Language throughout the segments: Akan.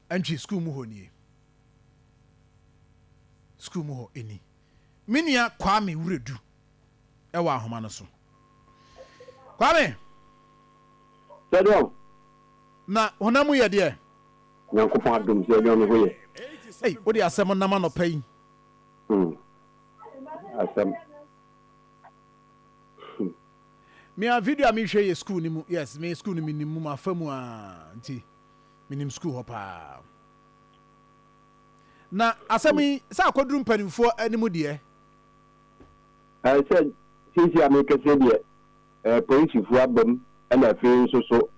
Antwi sukuu mu hɔ nie. Sukuu mu hɔ ni. Me nua Kwame Wuredu wɔ ahoma no so. Kwame! Sɛdeɛ ɔ. Na honam mu yɛ deɛ? Nyankopɔn adom, sɛdeɛ ɔ me ho yɛ. Ei, wo de asɛm nam anɔpa yi. Hmm. Asɛm. Hmm. Me a video a mehwɛ yɛ sukuu no mu, yes, me sukuu no menim mu, mafa mu aa, nti. menim sukuu hɔ paa. Na asɛm yi, sɛ akɔduru mpanimfoɔ anim deɛ? Ɛɛ, sɛ seesei a merekasa yi deɛ, ɛɛ, polisifoɔ abam, ɛna afei nso so,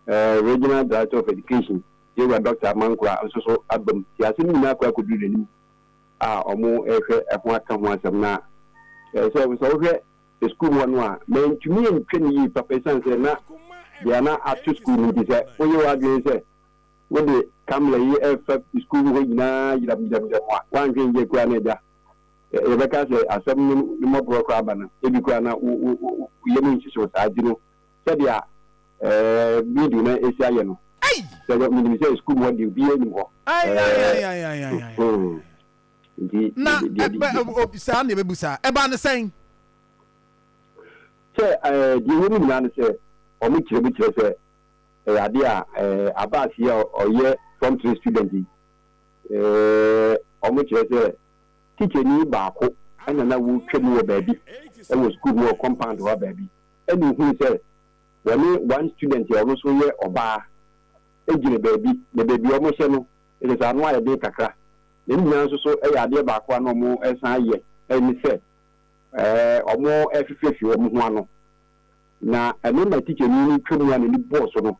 ɛɛ, Regional Director of Education, Yɛwura Dɔkta Amankorah nso so abam. Nti asɛm yi nyinaa akɔ akɔduru n'anim a wɔrehwɛ ɛho aka ho asɛm na, ɛɛ, sɛ, sɛ wohwɛ sukuu mu hɔ no a, mantumi antwa no yie papa esiane sɛ na dua no ato sukuu no nti. Sɛ woyɛ w'adwene sɛ wode Kamla yi refa sukuu mu hɔ nyinaa yiramuyiram a, woanhwɛ anwie koraa na agya, yɛbɛka sɛ asɛm no ne mmɔborɔ koraa ba no. Ebi koraa na wo yam nhyehyew saa nti no, sɛdeɛ video no asi ayɛ no, menim sɛ sukuu mu hɔ deɛ obiara nnim hɔ. Nti na ɛbɛ ɛb ob saa na yɛbɛbu saa. Ɛbaa no sɛn? Sɛ ɛɛ deɛ ɛwɔ mu nyinaa ne sɛ wɔn kyerɛ mu kyerɛ sɛ ɛyɛ adeɛ a ɛɛ Abass yi a ɔyɛ form three student yi ɛɛ wɔn kyerɛ sɛ tikyani baako ɛna na wɔtwa mu wɔ baabi ɛwɔ sukuu mu wɔ compound hɔ baabi ɛna ohunu sɛ wɔne one student a ɔno nso yɛ ɔbaa ɛgyina baabi na baabi a wɔhyɛ no Ɛsɛ sɛ ano ayɛ den kakra, na ne nyinaa nso so yɛ adeɛ baako a na wɔsan ayɛ ne sɛ wɔrefifirafi wɔn ho ano. Na ɛno ma tikyani no twa mu a n'ani bɔɔ so no,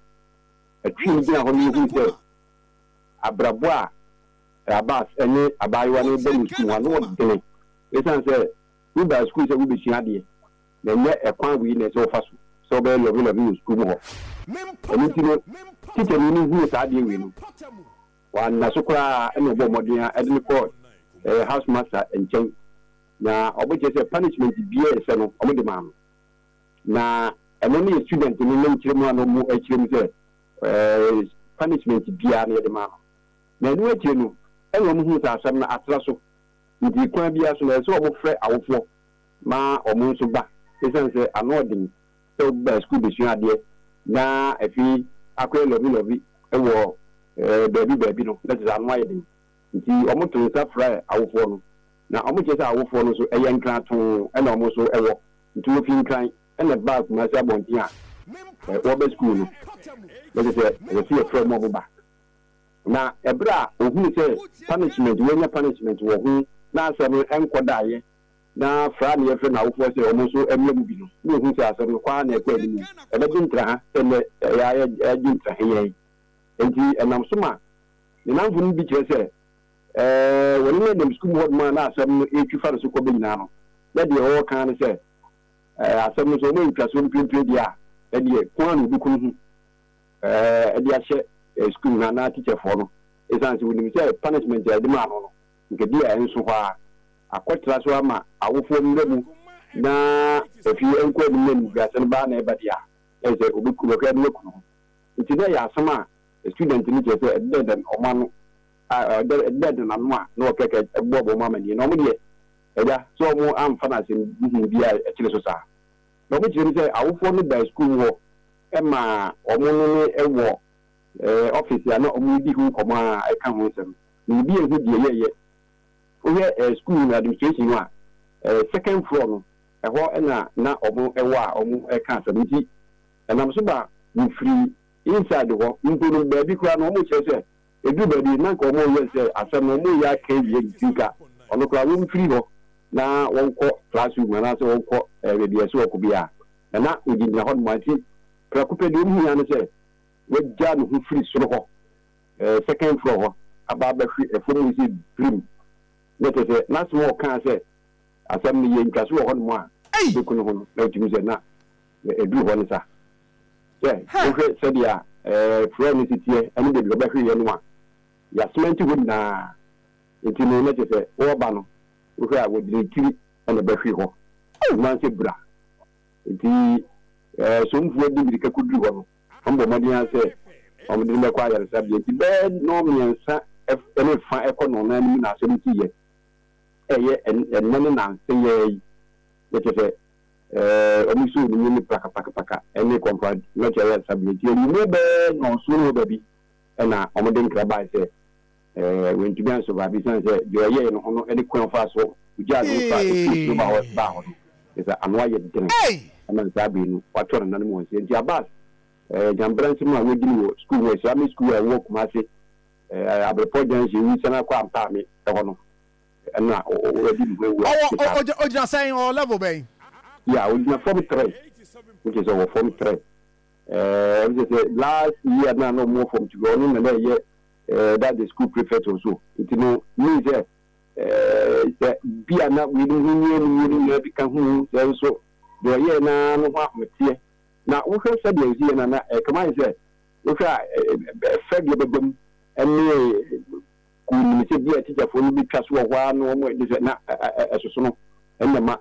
ɛtwee no gyinaa hɔ na ɔhui sɛ abrabɔ a Abbas ne abaayewa no rebɔ no sukuu hɔ no, ano yɛ den. Ɛsiane sɛ wobae sukuu sɛ worebɛsua adeɛ, na ɛnyɛ ɛkwan wei na ɛsɛ sɛ wofa so sɛ wobɛyɛ lɔvilɔvi wɔ sukuu mu hɔ. Ɛno nti no, tikyani no huu saa adeɛ wei no, wanna so koraa na ɔbɔɔ mmɔden ara de no kɔɔ ɛɛ housemaster nkyɛn, na wɔbɛkyerɛ sɛ punishment biara a ɛsɛ no, wɔde maa no. Na ɛno ne student no ne nkyerɛmu a na wɔkyerɛ mu sɛ ɛɛ punishment biara no yɛde maa no. Na ɛno akyire no na wɔhuu sɛ asɛm no atra so, nti kwan biara so no ɛsɛ sɛ wɔfrɛ awofoɔ ma wɔn nso ba esiane sɛ ano yɛ den sɛ woba sukuu besua adeɛ na afei akɔyɛ lɔvilɔvi wɔ baabi baabi no, na kyerɛ sɛ ano ayɛ den. Enti wɔto nsa frɛ awofoɔ no, na wɔkyerɛ sɛ awofoɔ no nso ɛyɛ Nkran too na wɔn nso wɔ, nti wɔfiri Nkran na ɛbaa Kumasi abɔnten a wɔreba sukuu no, na kyerɛ sɛ ɛsɛ sɛ yɛfrɛ wɔn a wɔba. Na ɛberɛ a wɔhunu sɛ punishment, wɔanya punishment wɔ ho na asɛm no nkɔdaeɛ na fra nea yɛfrɛ no awofoɔ sɛ wɔn nso mmra mu bi no, na wɔhu sɛ asɛm no kɔ ara na ɛkɔ anim. Ɛbɛgye ntraha sɛ nnɛ yɛn ara yɛgye ntraha yɛn. Enti ɛnam so ma ne nnamfo no bi kyerɛ sɛ wɔne no nam sukuu mu hɔnom a na asɛm no retwi fa ne so kɔ bɛ nyinaa no, na deɛ wɔreka ara ne sɛ, Asɛm no, sɛ wɔayɛ ntwasoɔ no pirepire deɛ a, ɛdeɛ ko ara na wɔbɛku ne ho de ahyɛ sukuu no anaa tikyɛfoɔ no, ɛsiane sɛ wɔnim sɛ punishment a wɔde maa no no, Nkabi a ɛnso hɔ ara, akɔtra so ama awofoɔ mmra mu na afie ɛnkɔ anim na animguasɛm baa na ɛba deɛ a, na ɛsɛ ɔbɛku no, ɔkra bi na kunu ho. Nti na ɛyɛ asɛm a student no kyerɛ sɛ ɛdedɛɛdɛn wɔn ano a ɛdedɛɛdɛn wɔn ano a na wɔkɛkɛ ɛbɔ wɔn amaneɛ na wɔn deɛ agya sɛ wɔn amfa no asɛm huhuu bi a ɛkyere so saa. Na wɔn kyerɛ mu sɛ awofoɔ no baa sukuu mu hɔ maa wɔn ne ne wɔ office a na wɔredi ho nkɔmmɔ a ɛka ho nsɛm. Na obi ehu deɛ yɛɛyɛ. Wohwɛ eh school no administration no a, eh second floor no, ɛhɔ na na ɔmo ɛwɔ a ɔmo ɛka asɛm. Nti ɛnam so ma mefiri inside hɔ mpo no baabi koraa no ɔmo kyerɛ sɛ eduru baabi na nka ɔmo yɛ sɛ asɛm no ɔmo yɛ aka awie nti nka ɔno koraa wɔn firi hɔ na wɔnkɔ class room anaasɛ wɔnkɔ eh baabi a ɛsɛ ɔkɔ biara na na ogyinagyina hɔ nom a nti prɛko pɛ deɛ ɔmo hia ne sɛ wagya ne ho firi soro hɔ. Ɛɛ second floor hɔ aba abɛhwe ɛfam hɔ sɛ birim na kyerɛ sɛ n'asɛm a ɔkaa sɛ asɛm no yɛ ntwaso wɔ hɔnom a ɛbɛku no ho no na wotumi sɛ na ɛduru hɔ no sa. Sɛ wohwɛ sɛdeɛ ɛɛ floor no si teɛ ɛne baabi a ɔbɛhweeɛ no a yɛasmɛnte hɔ nyinaa nti no na kyerɛ sɛ wɔreba no wohwɛ a wɔde ne tiri na ɛbɛhwe hɔ ɛno ara sɛ bra nti ɛɛ somfoɔ de mmirika kɔduru hɔ no Wɔbɔ mmɔden ara sɛ wɔde no bɛkɔ ayaresabea nti, bɛyɛ nnɔnmiɛnsa ne fã kɔ nnɔnnan no mu na asɛm ti yɛ. Ɛyɛ ɛnnɛ ne nnansa yi ara yi na kyerɛ sɛ wɔsoo no mu ne prakapakapaka ne Kɔmfoa Norte Ayaresabea nti, anwummere bɛyɛ nnɔnson ne reba bi na wɔde nkra bae sɛ, Ɛɛ, wantumi ansurvive esiane sɛ deɛ ɔyɛe no ho no ne kwan a ɔfaa so gyaa ne ho faa efie soro baa hɔ baa hɔ no, kyerɛ sɛ ano ayɛ den ma saa bere no wɔato nananom wɔn sɛ. Enti Abbas, ɛɛ, Nyambra nsɛm a wɔadi no wɔ sukuu ho, Islamic School a ɛwɔ Kumasi, ɛɛ, Abrepɔ Junction, wu san akɔ Ampaame hɔ no, ɛna wadi ne ho awu a ɛte saa. Ɔwɔ, ɔgyina sɛn, ɔwɔ level bɛn? Yeah, ɔgyina fam trɛ, which is ɔwɔ fam trɛ. Ɛɛ, ɛfisɛ sɛ last year no a na wɔwɔ fam two, ɔno na na ɛyɛ eh, that's the school prefect or so. Nti no, mean sɛ, eh, sɛ bi a na weinom ho hia no wuo no nyinaa bi ka ho o, sɛ nso deɛ ɔyɛɛ no ara no ho ahoteɛ. Na wohwɛ sɛdeɛ ɔsi yɛ no a, na eh, kama ayɛ sɛ wohwɛ a eh, eh, fɛ deɛ bɛbam ne kuo nim sɛ bi a tikyafoɔ no bɛtwa so wɔ hɔ ara no wɔn ɛde sɛ na eh, eh, eh, ɛsosono ɛna ma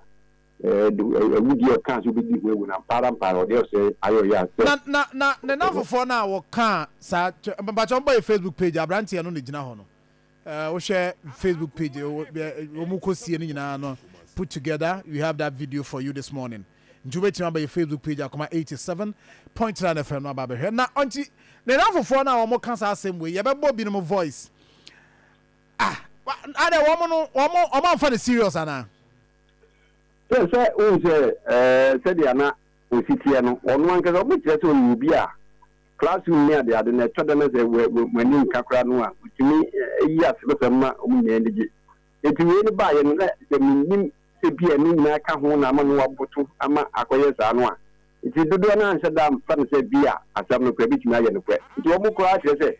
Awu deɛ ɔkaa sɛ ɔbɛdi ho awu no, ampa ara ampa ara ɔdeɛ ɔsɛ ayɛ ɔyɛ a sɛ. Na na na ne nnamfofoɔ no a wɔkaa saa kyɛ mpakyɛ wɔn bɔ yɛ Facebook page abranteɛ no na ɛgyina hɔ no ɛɛ wohwɛ Facebook page wɔn mu kɔ sie no nyinaa no put together we have that video for you this morning nti wobɛtumi aba yɛ Facebook page akoma 87.9 FM no aba abɛhwɛ na ɔnti ne nnamfofoɔ no a wɔn ka saa asɛm wei yɛbɛbɔ binom voice ah adɛ wɔn no wɔn wɔn amfa no serious anaa. Sɛ sɛ wohu sɛ sɛdeɛ na wɔsi teɛ no, ɔno ankasa wobɛkyerɛ sɛ ɔyɛ obi a classroom ne adeade no ɛtɔ da na sɛ wɔn ani nka koraa no a, ɔtumi yi asebesɛm ma wɔn nyinaa ani gye. Enti wei no baeɛ no na sɛ mennim sɛ bi a ɛno nyinaa ka ho na ama no aboto ama akɔyɛ saa no a, enti dodoɔ no ara nhyɛ da mfa no sɛ bi a asɛm no koraa ɛbɛtumi ayɛ nokorɛ. Nti wɔn koraa kyerɛ sɛ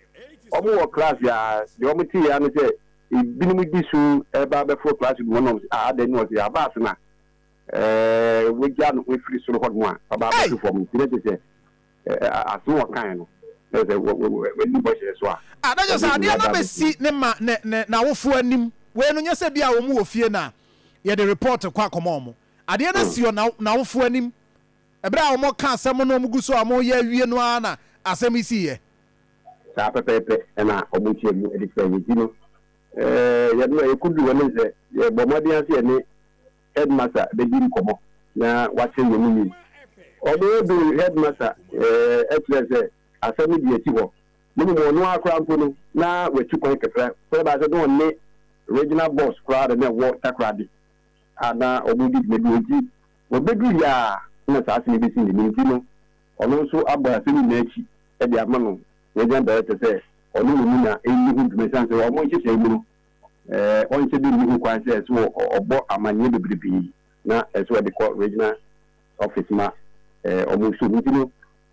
wɔn wɔ class a deɛ wɔteeɛ ara ne sɛ, Binom gye su ba bɛforo klass mu hɔnom se, Aa dɛn ne ɔse aba ase na wagyaa ne ho afiri soro hɔnom a aba abɛto fam nti na kyerɛ sɛ asem a ɔkae no na kyerɛ sɛ wadi bɔhyɛ no so a Ah, na kyerɛ sɛ adeɛ no abɛsi ne ma ne ne n'awofoɔ anim. Wei no nyɛ sɛ bi a wɔn wɔ fie na yɛde report kɔ akɔma wɔn. Adeɛ no asi wɔn n'awofoɔ anim. Bere a wɔka asɛm na wɔgu so a wɔreyɛ awie no ara na asɛm yi siiɛ. Saa pɛpɛɛpɛ na wɔkyerɛ mu de sɛ yɛdi no. Yɛn a yɛkɔduu hɔ no sɛ yɛbɔɔ mmɔden ara sɛ yɛne Headmaster bɛdi nkɔmmɔ na wakyerɛ yɛn mu yie. Wɔduu Headmaster kyerɛɛ sɛ asɛm no deɛ ɛti hɔ na mmom ɔno ara koraa mpo no na watu kwan kakra sɛ ɛbaa sɛ na ɔne Regional Boss koraa na na ɛwɔ Takoradi a na wɔredi dwuma bi enti, Wɔbɛdurui a na saa asɛm yi bɛsi ne nti no, ɔno nso abɔ asɛm nyinaa akyi de ama no Regional Director sɛ ɔne no nni na ɛnni ho dwuma ɛsiane sɛ wɔn nhyehyɛe mu no, wɔnhyɛ da nni ho kwan sɛ ɛsɛ sɛ ɔbɔ amanneɛ bebrebe na ɛsɛ sɛ ɔde kɔ Regional Office ma wɔn. So nti no,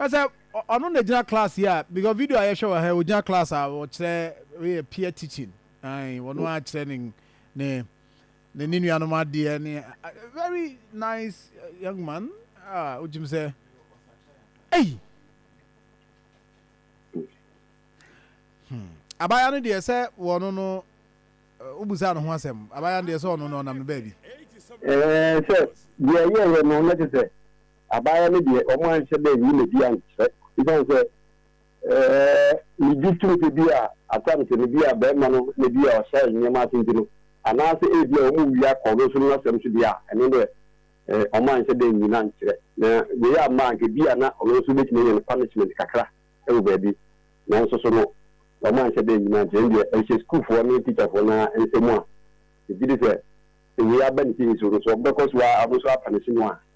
Ɛsɛ ɔno na gyina class yi a because video a yɛhwɛ wɔ ha ogyina class a ɔkyerɛ yɛ peer teaching ayi ɔno a kyerɛ ne ne ne ne nuanom adeɛ ne very nice young man a ogyim sɛ ɛyi hmm abaayewa no deɛ sɛ wɔn no wobusa no ho asɛm abaayewa no deɛ sɛ ɔno no ɔnam no baabi ɛɛ sɛ deɛ yɛyɛ no na te sɛ Abaayewa no deɛ, wɔanhyɛ da nyi n'adi ankyerɛ. Esiane sɛ migye tom sɛ bi a assumption no bi a barima no na bi a ɔhyɛ nneɛma ase nti no, anaasɛ ebia wɔwia kɔɔlosoro no asɛm nso deɛ a, ɛno deɛ wɔanhyɛ da nyi no ankyerɛ. Na wei amma a, anka ebia na ɔno nso betumi anya no punishment kakra wɔ baabi. Nanso so no, wɔanhyɛ da nyi no ankyerɛ. Ɛnde ɛhyɛ sukuufoɔ ne tikyafoɔ no ara nsam a, megye di sɛ sɛ wei aba ne tirinwi so no, so wɔbɛkɔ so ara wɔn nso apunishe no a?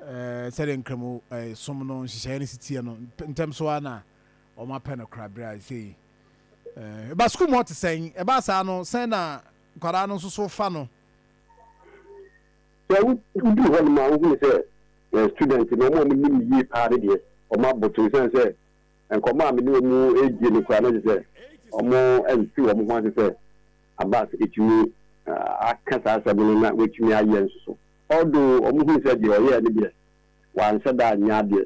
Sɛdeɛ Nkramu som no nhyehyɛeɛ no si teɛ no, ntɛm so ara na wɔapɛ no korabere a ɛsɛ yi. Ɛba sukuu mu hɔ te sɛn? Ɛbaa saa no, sɛn na nkwadaa no nso so fa no? Sɛ woduru hɔnom a, wohunu sɛ students no, wɔn a wɔnim me yie paa no deɛ, wɔaboto ɛsiane sɛ nkɔmmɔ a me ne wɔn redie no koraa na kyerɛ sɛ wɔmfiri wɔn ho ase sɛ Abbas tumi aka saa asɛm no na watumi ayɛ nso so. Although wɔn hu sɛ deɛ ɔyɛɛ no deɛ wanhyɛ da anyɛ adeɛ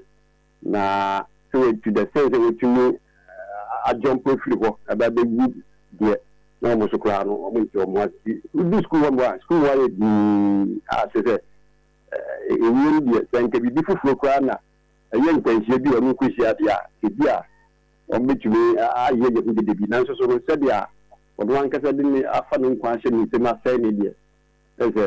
na sɛ wɔn to the sense sɛ wɔtumi ajump afiri hɔ ɛba abɛwu deɛ na wɔn nso koraa no wɔn nte wɔn ase. Wodu sukuu hɔ mpo a sukuu hɔ ayɛ dinn a kyerɛ sɛ ɛwiem deɛ sɛ nka biribi foforɔ koraa na ɛyɛ nkwanhyia bi a wɔn kɔhyia deɛ a ɛbi a wɔn bɛtumi ayɛ yɛ ho dede bi nanso so no sɛdeɛ wɔn ankasa de ne afa ne nkwa ahyɛ ne nsam asɛe ne deɛ Kyerɛ sɛ,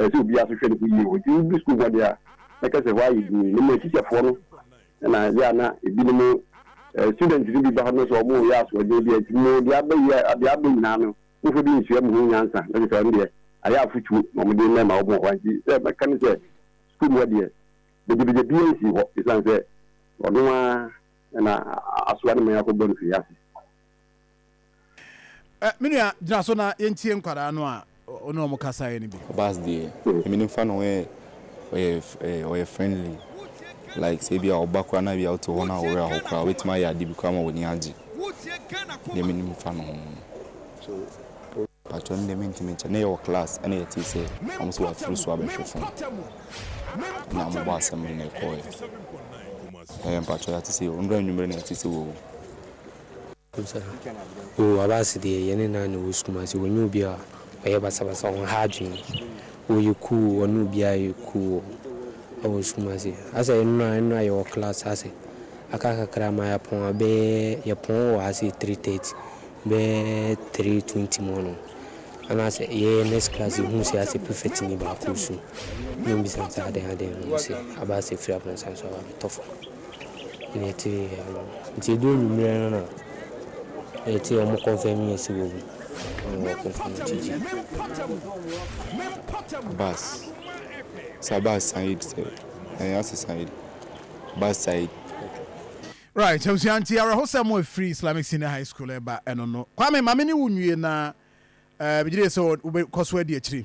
ɛsɛ obiara nso hwɛ ne ho yie o. Nti wodu sukuu hɔ deɛ a, na kyerɛ sɛ hɔ ayɛ dinn. Ne mmerɛ tikyafoɔ no na ɛyɛ a na ebinom, students no bi ba hɔ no sɛ wɔreyɛ asoɔden bi a, nti mo deɛ aba yi a, deɛ aba nyinaa no, momfa bi nsua mo ho nyansa. Na kyerɛ sɛ ɛno deɛ, ayɛ afotuo na wɔde rema wɔn wɔ hɔ a. Nti sɛ mɛka ne sɛ, sukuu mu hɔ deɛ, begyabegya biara nsii hɔ, ɛsiane sɛ ɔno ara na asoa no ma yɛakɔbɔ no firi ase. Ɛ, me nua, gyina so na yɛntie nkwadaa no a wo ne wɔn kasaeɛ no bi. Bass deɛ, me ne fa no ho yɛ, ɔyɛ, eh, ɔyɛ friendly. Like sɛ ebia ɔba koraa na ebia wote hɔ na wo werɛ ahow koraa a, obetumi ayɛ ade bi koraa ma w'ani agye. Deɛ me ne no fa no ho no. Patrɔ, ɛno deɛ mentumi nkyɛ. Na yɛwɔ class ɛna yɛtee sɛ wɔn sɛ wɔafiri so abɛhwe fam. Na wɔbɔɔ assembly na ɛkɔɔɛ. Ɛɛ, mpatrɔ, yɛate sɛ, nnora anwummere na yɛte sɛ wɔawu. Oh Abass deɛ yɛne no ara na ɛwɔ sukuu mu ase, ɔnyɛ obi a ɔyɛ basabasa, ɔnha adwene, ɔyɛ cool, ɔne obiara yɛ cool wɔ sukuu mu ase. Asɛ nnora nnora yɛwɔ class ase, aka kakra ma yɛapɔn a, bɛyɛ yɛpɔn wɔ ha sei three thirty, bɛyɛ three twenty mu hɔnom, anaasɛ yɛyɛ next class yɛhunu sɛ asɛ prefectni baako resu na ɔmmisa sɛ adɛn adɛn na ɔse Abass afiri aborosan so aba abɛtɔ fam. na yɛte ano. Nti edu ewimerɛ no na yɛte wɔn kɔnfɛm yɛn si wɔ mu na wɔn kɔnfɛm gyigyi. Bus sa bus said sɛ ɛyɛ ase said bus said. Right abusua nti awerɛhosɛm a ɛfiri Islamic Senior High School ɛreba ɛno no. Kwame ma me ne wo nwie na ɛɛ megyedie sɛ wobɛkɔ so adi akyire.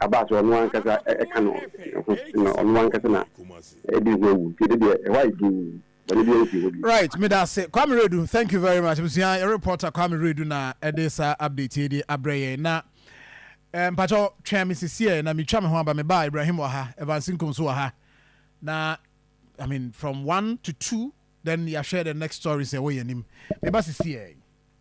Aba sɛ ɔno ankasa ka no ho na ɔno ankasa na ɛde ho awu nti ɛno deɛ ɛhɔ ayɛ dinn, bɔne biara nsi hɔ bio. Right, meda ase Kwame Redu, thank you very much. Abusua, yɛn reporter Kwame Redu na ɛde saa update yi de abrɛ yɛn. Na eh, mpakyɛw twɛn me sisiɛ na metwa me ho aba me ba Ibrahim wɔ ha, Evans Nkum nso wɔ ha. Na I mean from one to two then yɛahwɛ the next stories ɛwɔ yɛn anim. Me ba sisiɛ.